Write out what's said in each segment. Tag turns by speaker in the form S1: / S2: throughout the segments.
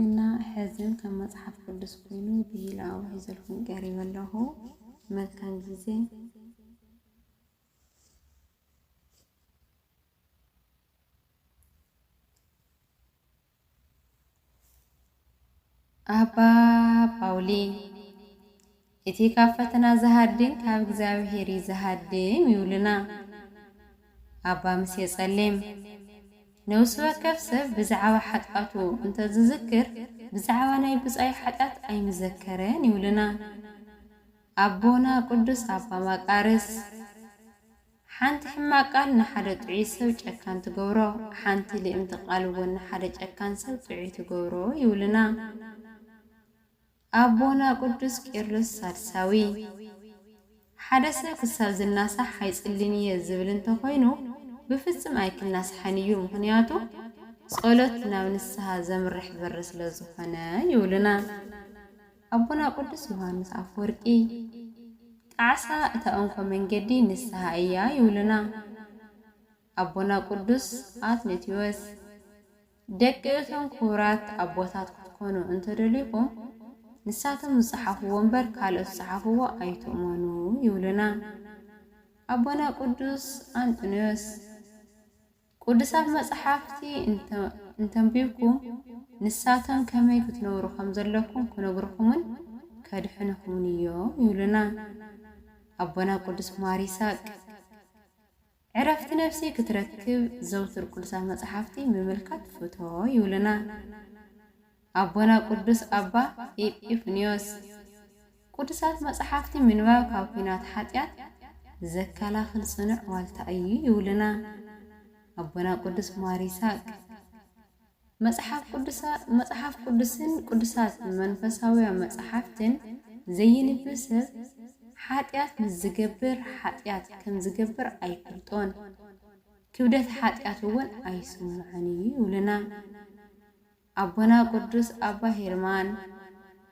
S1: እና ሐዝን ከም መፅሓፍ ቅዱስ ኮይኑ ብሂል ኣዋ ሒዘልኩም ቀሪበ ኣለኹ መልካም ጊዜ ኣባ ጳውሊ እቲ ካብ ፈተና ዝሃድም ካብ እግዚኣብሄር እዩ ዝሃድም ይብሉና ኣባ ምሴ ጸሊም። ነብሲ ወከፍ ሰብ ብዛዕባ ሓጥኣቱ እንተ ዝዝክር ብዛዕባ ናይ ብጻዩ ሓጥያት ኣይምዘከረን ይብሉና ኣቦና ቅዱስ ኣባ መቃርስ። ሓንቲ ሕማቅ ቃል ንሓደ ጥዑይ ሰብ ጨካን ትገብሮ ሓንቲ ልእምቲ ቃል እውን ንሓደ ጨካን ሰብ ጥዑይ ትገብሮ ይብሉና። ኣቦና ቅዱስ ቄርሎስ ሳልሳዊ፣ ሓደ ሰብ ክሳብ ዝናሳሕ ኣይጽሊን እየ ዝብል እንተ ኾይኑ ብፍጽም ኣይክናሳሕን እዩ፣ ምኽንያቱ ጸሎት ናብ ንስሃ ዘምርሕ በሪ ስለ ዝኾነ ይብሉና ኣቦና ቅዱስ ዮሃንስ ኣፈወርቂ። ጣዕሳ እታ እንኮ መንገዲ ንስሃ እያ ይብሉና። ኣቦና ቅዱስ ኣትነትዮስ ደቂ እቶም ክቡራት ኣቦታት ክትኮኑ እንተደሊኹም ንሳቶም ዝጸሓፍዎ እምበር ካልኦት ዝጸሓፍዎ ኣይትእመኑ ይብሉና። ኣቦና ቅዱስ ኣንጥንዮስ ቅዱሳት መጽሓፍቲ እንተንቢብኩም ንሳቶም ከመይ ክትነብሩ ከም ዘለኩም ክነግርኹምን ከድሕንኹምን እዮም ይብሉና ኣቦና ቅዱስ ማር ይስሐቅ። ዕረፍቲ ነፍሲ ክትረክብ ዘውትር ቅዱሳት መጻሕፍቲ ምምልካት ፍቶ ይብሉና ኣቦና ቅዱስ ኣባ ኤጲፍንዮስ። ቅዱሳት መጻሕፍቲ ምንባብ ካብ ኲናት ሓጢኣት ዘከላኽል ጽኑዕ ዋልታ እዩ ይብሉና ኣቦና ቅዱስ ማር ይስሃቅ። መጽሓፍ ቅዱሳ መጽሓፍ ቅዱስን ቅዱሳት መንፈሳውያ መጻሕፍትን ዘይንብብ ሰብ ሓጢኣት ምስ ዚገብር ሓጢኣት ከም ዚገብር ኣይፈልጦን፣ ክብደት ሓጢኣት እውን ኣይስምዖን እዩ ይብሉና ኣቦና ቅዱስ ኣባ ሄርማን።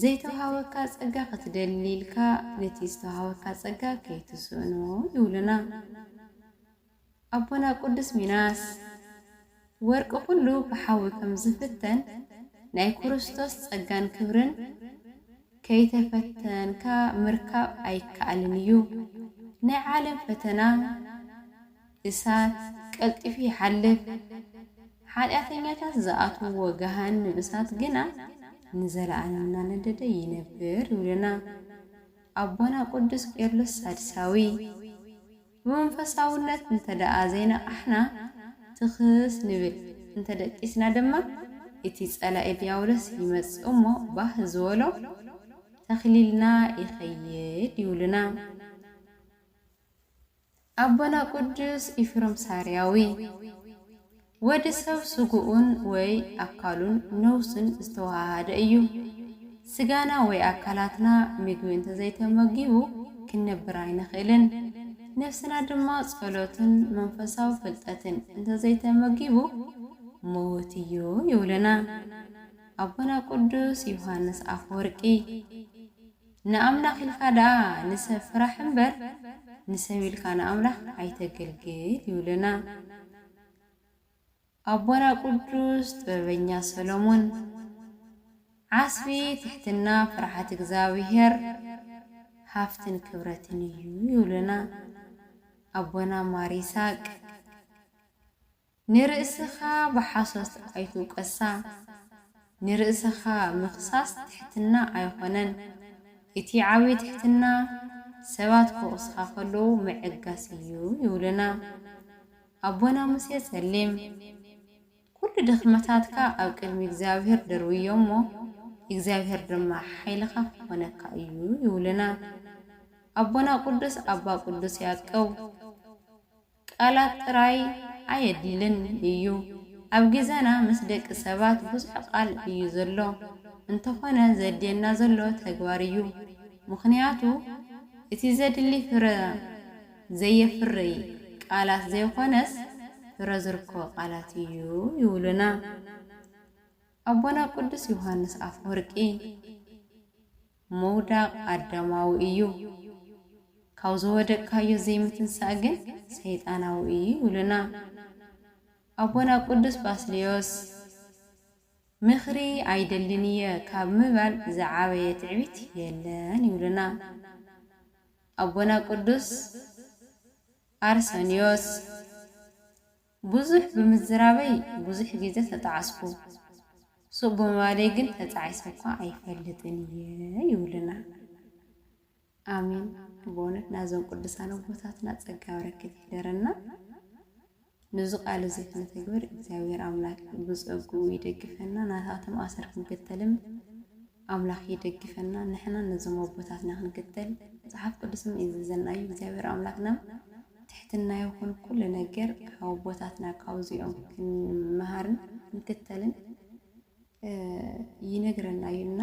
S1: ዘይተውሃበካ ጸጋ ክትደሊ ኢልካ ነቲ ዝተውሃበካ ጸጋ ከይትስእኖ ይብሉና ኣቦና ቅዱስ ሚናስ። ወርቂ ኩሉ ብሓዊ ከም ዝፍተን ናይ ክርስቶስ ጸጋን ክብርን ከይተፈተንካ ምርካብ ኣይከኣልን እዩ። ናይ ዓለም ፈተና እሳት ቀልጢፉ ይሓልፍ፣ ሓጢኣተኛታት ዝኣትውዎ ገሃነም እሳት ግና ንዘለኣለም እናነደደ ይነብር ይብሉና ኣቦና ቅዱስ ቄርሎስ ሳድሳዊ። ብመንፈሳውነት እንተደኣ ዘይነቓሕና ትኽስ ንብል እንተደቂስና ድማ እቲ ጸላኢ ድያብሎስ ይመጽእ እሞ ባህ ዝበሎ ተኽሊልና ይኸይድ ይብሉና። ኣቦና ቅዱስ ኢፍሮም ሳርያዊ፣ ወዲ ሰብ ስግኡን ወይ ኣካሉን ነውሱን ዝተወሃሃደ እዩ። ስጋና ወይ ኣካላትና ምግቢ እንተዘይተመጊቡ ክንነብር ኣይንኽእልን። ነፍስና ድማ ጸሎትን መንፈሳዊ ፍልጠትን እንተዘይተመጊቡ ምዉት እዩ ይብሉና ኣቦና ቅዱስ ዮሃንስ ኣፈወርቂ። ንኣምላኽ ኢልካ ደኣ ንሰብ ፍራሕ እምበር ንሰብ ኢልካ ንኣምላኽ ኣይተግልግል ይብሉና ኣቦና ቅዱስ ጥበበኛ ሰሎሞን። ዓስቢ ትሕትና ፍርሓት እግዝኣብሄር ሃፍትን ክብረትን እዩ ይብሉና ኣቦና ማር ይስሃቅ። ንርእስኻ ብሓሶት ኣይትውቀሳ፣ ንርእስኻ ምኽሳስ ትሕትና ኣይኾነን፣ እቲ ዓብይ ትሕትና ሰባት ክወቕሱኻ ከለዉ ምዕጋስ እዩ ይብሉና ኣቦና ሙሴ ፀሊም። ኩሉ ድኽመታትካ ኣብ ቅድሚ እግዚኣብሄር ደርብዮ እሞ እግዚኣብሄር ድማ ሓይልኻ ክኾነካ እዩ ይብሉና ኣቦና ቅዱስ ኣባ ቅዱስ ያዕቀብ። ቃላት ጥራይ ኣየድልን እዩ ኣብ ግዘና ምስ ደቂ ሰባት ብዙሕ ቃል እዩ ዘሎ እንተኾነ ዘድልየና ዘሎ ተግባር እዩ ምኽንያቱ እቲ ዘድሊ ፍረ ዘየፍርይ ቃላት ዘይኾነስ ፍረ ዝርከቦ ቃላት እዩ ይብሉና ኣቦና ቅዱስ ዮሃንስ ኣፈወርቂ። ምውዳቕ ኣዳማዊ እዩ፣ ካብ ዝወደቅካዮ ዘይምትንሳእ ግን ሰይጣናዊ እዩ ይብሉና ኣቦና ቅዱስ ባስልዮስ። ምኽሪ ኣይደልን እየ ካብ ምባል ዝዓበየ ትዕቢት የለን ይብሉና ኣቦና ቅዱስ ኣርሰንዮስ። ብዙሕ ብምዝራበይ ብዙሕ ግዜ ተጣዕስኩ፣ ሱቕ ብምባለይ ግን ተጣዒሰ'ኳ ኣይፈልጥን እየ ይብሉና። ኣሜን በእውነት ናዞም ቅዱሳን ኣቦታትና ጸጋ በረከት ይሕደረና። ንዙ ቃል እዙይ ክነተግብር እግዚኣብሔር ኣምላክ ብጸግኡ ይደግፈና ናታቶም ኣሰር ክንክተልም ኣምላክ ይደግፈና ንሕና ነዞም ኣቦታትና ክንክተል መጽሓፍ ቅዱስም ይእዝዘና እዩ እግዚኣብሔር ኣምላክና ትሕትና ይኩን ኩሉ ነገር ካብ ኣቦታትና ካብዚኦም ክንመሃርን ክንክተልን ይነግረና እዩ እና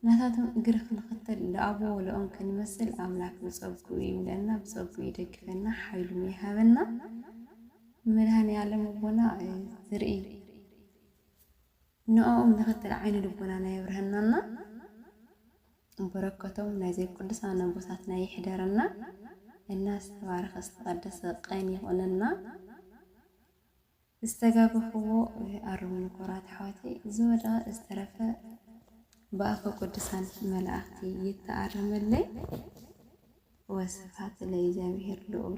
S1: ናታቶም እግሪ ክንክተል ለኣቦ ወለኦም ክንመስል ኣምላክ ብጸጉኡ ይምለና ብጸጉኡ ይደግፈና ሓይሉም ይሃበና መድሃኒ ዓለም ኣቦና ዝርኢ ንዕኦም ንክትርኢ ዓይነ ልቦናና የብርሀናና በረከቶም ናይዘም ቅዱሳን ኣቦታትና ይሕደረና እና ዝተባረከ ዝተቀደሰ ቀን ይኩነና። ዝተጋገኹዎ ኣርሙኒ ኩቡራት ኣሕዋተይ ዝወደቀ ዝተረፈ ብኣፈ ቅዱሳን መላእክቲ ይተኣረመለይ ወስብሃት ለእግዚኣብሔር ልኡል።